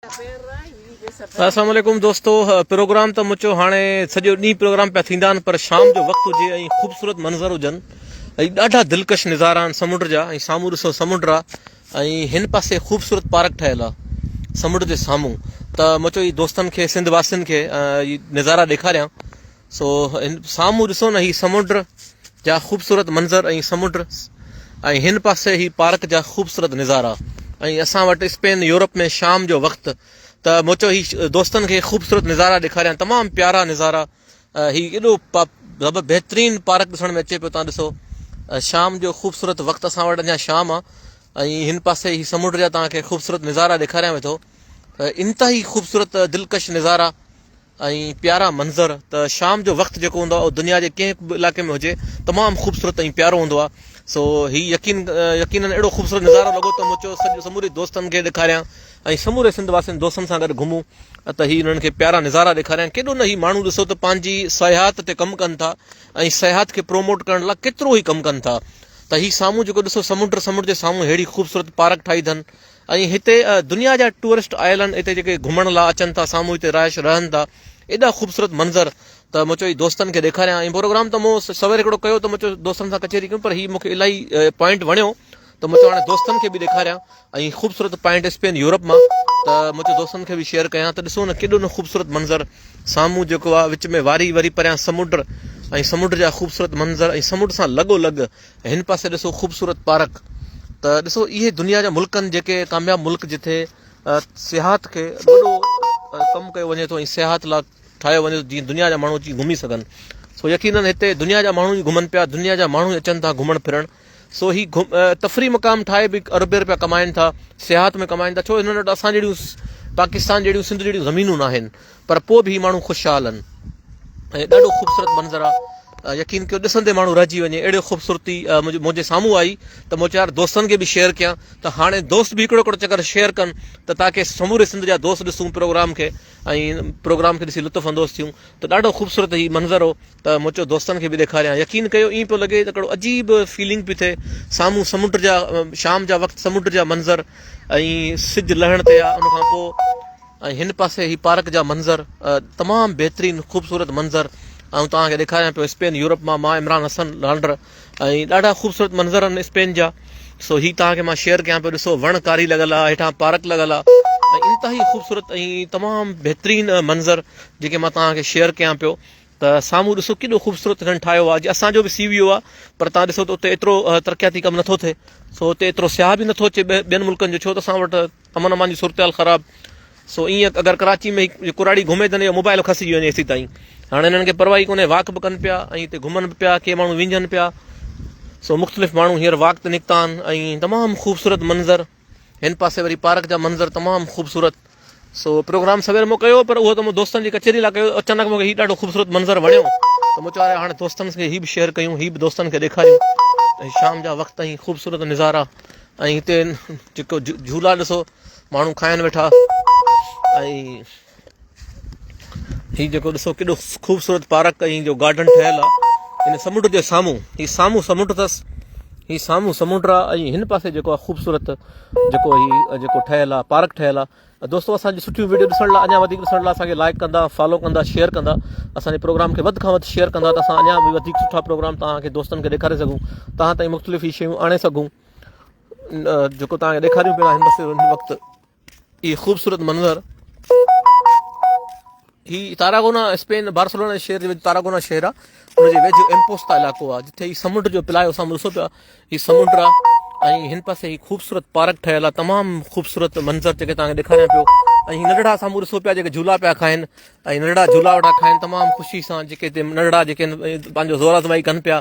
السلام عليڪم دوستو پروگرام ته مچو هاڻي سڄو ڏينهن پروگرام پيا ٿيندا آهن پر شام جو وقت هجي ۽ خوبصورت منظر هجن ۽ ڏاڍا دلڪش نظارا آهن سمنڊ جا ۽ سامهون ڏسو سمنڊ آ ۽ هن پاسي خوبصورت پارڪ ٺهيل آهي سمنڊ جي سامهون ته مچو هي دوستن کي سنڌ واسين کي نظارا ڏيکاريان سو سامهون ڏسو نه هي سمنڊ جا خوبصورت منظر ۽ سمنڊ ۽ هن پاسي هي پارڪ جا خوبصورت نظارا ۽ اسان وٽ اسپين يورپ ۾ شام جو وقت ته مون چيو هي دوستن کي خوبصورت نظارا ڏيکاريان تمام پيارا نظارا هي ايڏو بهترين پارڪ ڏسڻ ۾ اچي پيو تان ڏسو شام جو خوبصورت وقت اسان وٽ اڃا شام آ ۽ هن پاسي هي سمنڊ جا تان کي خوبصورت نظارا ڏيکاريان ويٺو انتهائي خوبصورت دلڪش نظارا ۽ پيارا منظر ته شام جو وقت جيڪو هوندو آهي اهو دنيا جي ڪنهن به علائقي ۾ هجي تمام خوبصورت ۽ پيارو هوندو آهي سو هي يقين يقينن اهڙو خوبصورت نظارو لڳو ته مون چيو سموري دوستن کي ڏيکاريان ۽ سموري سنڌ واسين دوستن سان گڏ گهمون ته هي انهن کي پيارا نظارا ڏيکاريان ڪيڏو نه هي ماڻهو ڏسو ته پنهنجي سياحت تي ڪم ڪن ٿا ۽ سياحت کي پروموٽ ڪرڻ لاء ڪيترو هي ڪم ڪن ٿا ته هي سامهون جيڪو ڏسو سمنڊ سمنڊ جي سامهون ههڙي خوبصورت پارڪ ٺاهي اٿن ۽ هتي دنيا جا ٽوئرسٽ آيل آهن هتي جيڪي گهمڻ لا اچن ٿا سامهون هتي رهائش رهن ٿا ايڏا خوبصورت منظر ته مون چيو دوستن کي ڏيکاريان ۽ پروگرام ته مون سوير هڪڙو ڪيو ته مون چيو دوستن سان ڪچهري ڪيون پر هي مونکي الاهي پوائنٽ وڻيو ته مون چيو هاڻي دوستن کي به ڏيکاريان ۽ خوبصورت پوائنٽ اسپين يورپ مان ته مون چيو دوستن کي به شيئر ڪيان ته ڏسو نه ڪيڏو نه خوبصورت منظر سامهون جيڪو آ وچ ۾ واري وري پريان سمنڊ ۽ سمنڊ جا خوبصورت منظر ۽ سمنڊ سان لڳو لڳ هن پاسي ڏسو خوبصورت پارڪ ته ڏسو اهي دنيا جا ملڪ آهن جيڪي ڪامياب ملڪ جتي سياحت کي وڏو ڪم ڪيو وڃي ٿو ۽ سياحت لاء ٺاهيو وڃي ٿو جيئن دنيا جا ماڻهو اچي گهمي سگهن سو يقينن هتي دنيا جا ماڻهو ئي گهمن پيا دنيا جا ماڻهو اچن ٿا گهمڻ ڦرڻ سو هي تفري مقام ٺاهي به ارب روپيا ڪمائن ٿا سياحت ۾ ڪمائن ٿا ڇو هنن وٽ اسان جهڙيون پاڪستان جهڙيون سنڌ جهڙيون زمينون ناهن پر پوء به هي ماڻهو خوشحال آهن ۽ ڏاڍو خوبصورت منظر آ يقين ڪيو ڏسندي ماڻهو رهجي وڃي اهڙي خوبصورتي منهنجي سامهون آئي ته مون چار دوستن کي به شيئر ڪيان ته هاڻي دوست به هڪڙو هڪڙو چڪر شيئر ڪن ته تاڪي سموري سنڌ جا دوست ڏسون پروگرام کي ۽ پروگرام کي ڏسي لطف اندوز ٿيون ته ڏاڍو خوبصورت هي منظر هو ته مون چيو دوستن کي به ڏيکاريان يقين ڪيو ائين پيو لڳي ته هڪڙو عجيب فيلنگ پي ٿئي سامهون سمنڊ جا شام جا وقت سمنڊ جا منظر ۽ سج لهڻ تي آ ان کان پوء ۽ هن پاسي هي پارڪ جا منظر تمام بهترين خوبصورت منظر آئون توهان کي ڏيکاريان پيو اسپين يورپ مان مان عمران حسن لانڊر ۽ ڏاڍا خوبصورت منظر آهن اسپين جا سو هي توهان کي مان شيئر ڪيان پيو ڏسو وڻ ڪاري لڳل آهي هيٺان پارڪ لڳل آهي ۽ انتهائي خوبصورت ۽ تمام بهترين منظر جيڪي مان توهان کي شيئر ڪيان پيو ته سامهون ڏسو ڪيڏو خوبصورت هنن ٺاهيو آهي جي اسان جو به سي ويو آهي پر توهان ڏسو ته اتي ايترو ترقياتي ڪم نٿو ٿئي سو اتي ايترو سياح به نٿو اچي ٻين ملڪن جو ڇو ته اسان وٽ امن امان جي صورتحال خراب سو ايئن اگر ڪراچي ۾ ڪراڙي گهمي تن اهو موبائل کسجي وڃي ايسي تائين هاڻي هنن کي پرواهي ڪونهي واڪ به ڪن پيا ۽ هتي گهمن به پيا ڪي ماڻهو وينجهن پيا سو مختلف ماڻهو هينئر واڪ تي نڪتا آهن ۽ تمام خوبصورت منظر هن پاسي وري پارڪ جا منظر تمام خوبصورت سو پروگرام سوير مون ڪيو پر اهو ته مون دوستن جي ڪچهري لاء ڪيو اچانڪ مونکي هي ڏاڍو خوبصورت منظر وڻيو ته مون چيو هاڻي دوستن کي هي به شيئر ڪيون هي به دوستن کي ڏيکاريون ۽ شام جا وقت ۽ خوبصورت نظارا ۽ هتي جيڪو جهولا ڏسو ماڻهو کائن ويٺا ۽ هي جيڪو ڏسو ڪيڏو خوبصورت پارڪ ۽ جو گارڊن ٺهيل آهي ان سمنڊ جي سامهون هي سامهون سمنڊ اٿس هي سامهون سمنڊ آهي ۽ هن پاسي جيڪو آهي خوبصورت جيڪو هي جيڪو ٺهيل آهي پارڪ ٺهيل آهي دوستو اسان جي سٺيون ويڊيو ڏسڻ لاء اڃا وڌيڪ ڏسڻ لاء اسان کي لائڪ ڪندا فالو ڪندا شيئر ڪندا اسان جي پروگرام کي وڌ کان وڌ شيئر ڪندا ته اسان اڃا به وڌيڪ سٺا پروگرام توهان کي دوستن کي ڏيکاري سگهون توهان تائين مختلف هي شيون آڻي سگهون جيڪو توهان کي ڏيکاريون پيا هن وقت هي خوبصورت منظر هي تاراگونا، اسپين، بارسلونا جي شهر جي ويجهه تاراگونا شهر آ. ان جي ويجهه امپوستا علائقو آ، جتي هي سمنڊ جو پلايو سامهون ڏسو پيا، هي سمنڊ آ ۽ هن پاسي هي خوبصورت پارڪ ٺهيل آ، تمام خوبصورت منظر جيڪي توهان کي ڏيکاريان پيو ۽ هي ننڍڙا سامهون ڏسو پيا جيڪي جهولا پيا کائن ۽ ننڍڙا جهولا وٺا کائن تمام خوشي سان جيڪي هتي ننڍڙا جيڪي پنهنجو زور آزمائي ڪن پيا.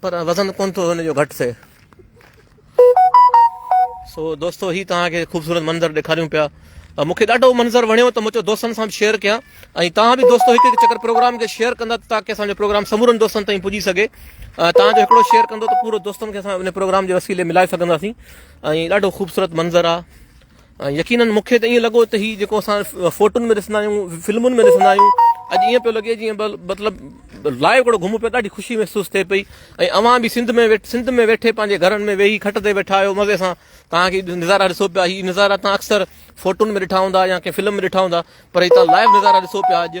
پر وزن ڪونه ٿو هن جو گهٽ ٿئي. سو دوستو هي توهان کي خوبصورت منظر ڏيکاريون پيا ۽ مونکي ڏاڍو منظر وڻيو ته مون چيو دوستن سان به شيئر ڪيان ۽ توهان به دوستو هڪ هڪ چڪر پروگرام کي شيئر ڪندا ته تاڪي اسان جو پروگرام سمورن دوستن تائين پڄي سگهي توهان جو هڪڙو شيئر ڪندو ته پورو دوستن کي اسان ان پروگرام جي وسيلي ملائي سگهنداسين ۽ ڏاڍو خوبصورت منظر آ يقينن مون کي ته ائين لڳو ته هي جيڪو اسان فوٽن ۾ ڏسندا آهيون فلمن ۾ ڏسندا آهيون اڄ ائين پيو لڳي جيئن مطلب لائيو ڪهڙو گهمون پيا ڏاڍي خوشي محسوس ٿئي پئي ۽ اوهان به سنڌ ۾ سنڌ ۾ ويٺي پنهنجي گهرن ۾ ويهي کٽ تي ويٺا آهيو مزي سان توهان کي نظارا ڏسو پيا هي نظارا تان اڪثر فوٽن ۾ ڏٺا هوندا يا ڪنهن فلم ۾ ڏٺا هوندا پر هي تان لائيو نظارا ڏسو پيا اڄ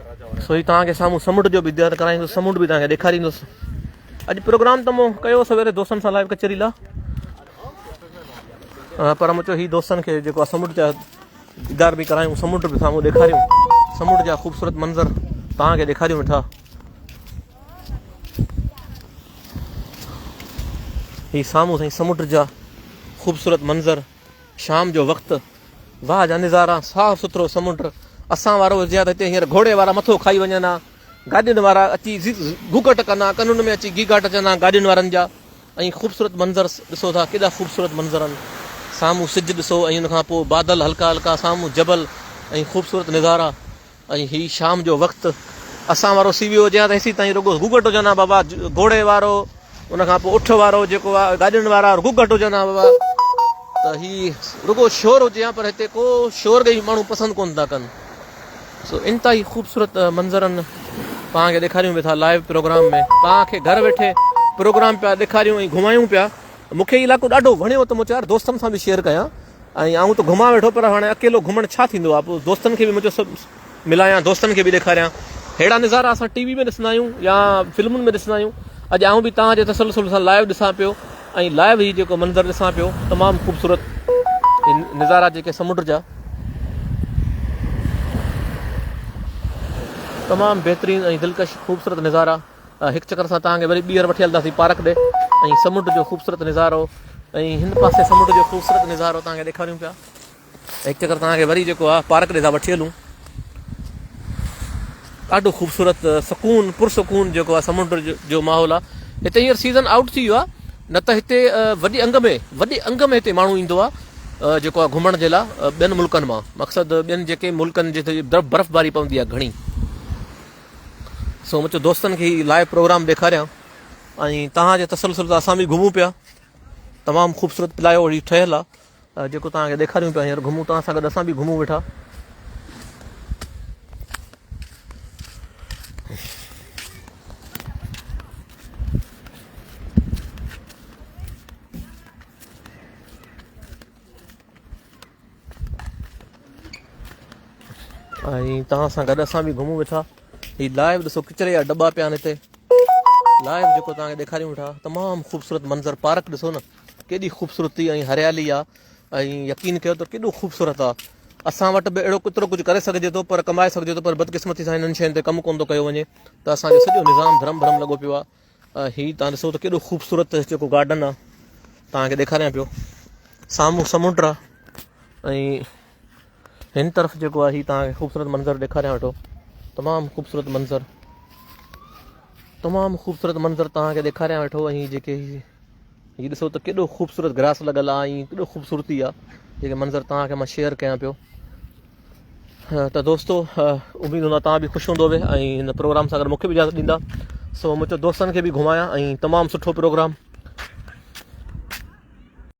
سو هي توهان کي سامهون سمنڊ جو به ديدار ڪرائيندس سمنڊ به توهان کي ڏيکاريندس اڄ پروگرام ته مون ڪيو سويري دوستن سان لائيو ڪچهري لا پر مون چيو هي دوستن کي جيڪو آهي سمنڊ جا ديدار به ڪرايون سمنڊ به سامهون ڏيکاريون سمنڊ جا خوبصورت منظر توهان کي ڏيکاريون ويٺا هي سامهون سائين سمنڊ جا خوبصورت منظر شام جو وقت واھ جا نظارا صاف سٿرو سمنڊ اسان وارو هجي ته هتي هينئر گهوڙي وارا مٿو کائي وڃن ها گاڏين وارا اچي گوگٽ ڪن ها ڪنن ۾ اچي گيگاٽ اچن ها گاڏين وارن جا ۽ خوبصورت منظر ڏسو ٿا ڪيڏا خوبصورت منظر آهن سامهون سج ڏسو ۽ ان کان پوء بادل هلڪا هلڪا سامهون جبل ۽ خوبصورت نظارا ۽ هي شام جو وقت اسان وارو سي ويو هجي ها ته هيسي تائين رڳو گگهٽ هجن ها بابا گهوڙي وارو ان کان پوء اٺ وارو جيڪو آ گاڏين وارا گگهٽ هجن ها بابا ته هي رڳو شور هجي ها پر هتي ڪو شور ڳئي ماڻهو پسند ڪونه ٿا ڪن سو انتهائي خوبصورت منظرن پان کي ڏيکاريون به ٿا لائيو پروگرام ۾ پان کي گهر ويٺي پروگرام پيا ڏيکاريون ۽ گهمايون پيا مونکي علائقو ڏاڍو وڻيو ته مون چيو يار دوستن سان به شيئر ڪيان ۽ آئون ته گهمان ويٺو پر هاڻي اڪيلو گهمڻ ڇا ٿيندو آ پوء دوستن کي به منهنجو سڀ ملايان دوستن کي به ڏيکاريان ههڙا نظارا اسان ٽي وي ۾ ڏسندا آهيون يا فلمن ۾ ڏسندا آهيون اڄ آئون به توهان جي تسلسل سان لائيو ڏسان پيو ۽ لائيو هي جيڪو منظر ڏسان پيو تمام خوبصورت نظارا جيڪي سمنڊ جا تمام بهترين ۽ دلڪش خوبصورت نظارا هڪ چڪر اسان توهان کي وري ٻيهر وٺي هلنداسين پارڪ ڏي ۽ سمنڊ جو خوبصورت نظارو ۽ هن پاسي سمنڊ جو خوبصورت نظارو توهان کي ڏيکاريون پيا هڪ چڪر توهان کي وري جيڪو آهي پارڪ ڏي ٿا وٺي هلون ڏاڍو خوبصورت سڪون پرسڪون جيڪو آهي سمنڊ جو ماحول آهي هتي هينئر سيزن آؤٽ ٿي ويو آهي نه ته هتي وڏي انگ ۾ وڏي انگ ۾ هتي ماڻهو ايندو آهي جيڪو آهي گهمڻ جي لاء ٻين ملڪن مان مقصد ٻين جيڪي ملڪن جتي برف باري پوندي آهي گهڻي سو مون چيو دوستن کي هي لائيو پروگرام ڏيکاريان ۽ توهان جي تسلسل سان اسان به گهمون پيا تمام خوبصورت پلايو هي ٺهيل آ جيڪو توهان کي ڏيکاريون پيا هينئر گهمون توهان سان گڏ اسان به گهمون ويٺا ۽ توهان سان گڏ اسان به گهمون ويٺا هي لائيو ڏسو ڪچري جا ڊبا پيا آهن هتي لائيو جيڪو توهان کي ڏيکاريون ويٺا تمام خوبصورت منظر پارڪ ڏسو نه ڪيڏي خوبصورتي ۽ هريالي آ ۽ يقين ڪيو ته ڪيڏو خوبصورت آ اسان وٽ به اهڙو ڪترو ڪجهه ڪري سگهجي ٿو پر ڪمائي سگهجي ٿو پر بدقسمتي سان هنن شين تي ڪم ڪون ٿو ڪيو وڃي ته اسان جو سڄو نظام ڌرم ڀرم لڳو پيو آ هي تان ڏسو ته ڪيڏو خوبصورت جيڪو گارڊن آ تان کي ڏيکاريان پيو سامهون سمنڊ آ ۽ هن طرف جيڪو آ هي تان کي خوبصورت منظر ڏيکاريان ويٺو تمام خوبصورت منظر تمام خوبصورت منظر تان کي ڏيکاريان ويٺو ۽ جيڪي هي ڏسو ته ڪيڏو خوبصورت گراس لڳل آهي ۽ ڪيڏو خوبصورتي آهي جيڪي منظر توهان کي مان شيئر ڪيان پيو ته دوستو اميد هوندو توهان به خوش هوندو به ۽ هن پروگرام سان گڏ مونکي به اجازت ڏيندا سو مون چيو دوستن کي به گهمايان ۽ تمام سٺو پروگرام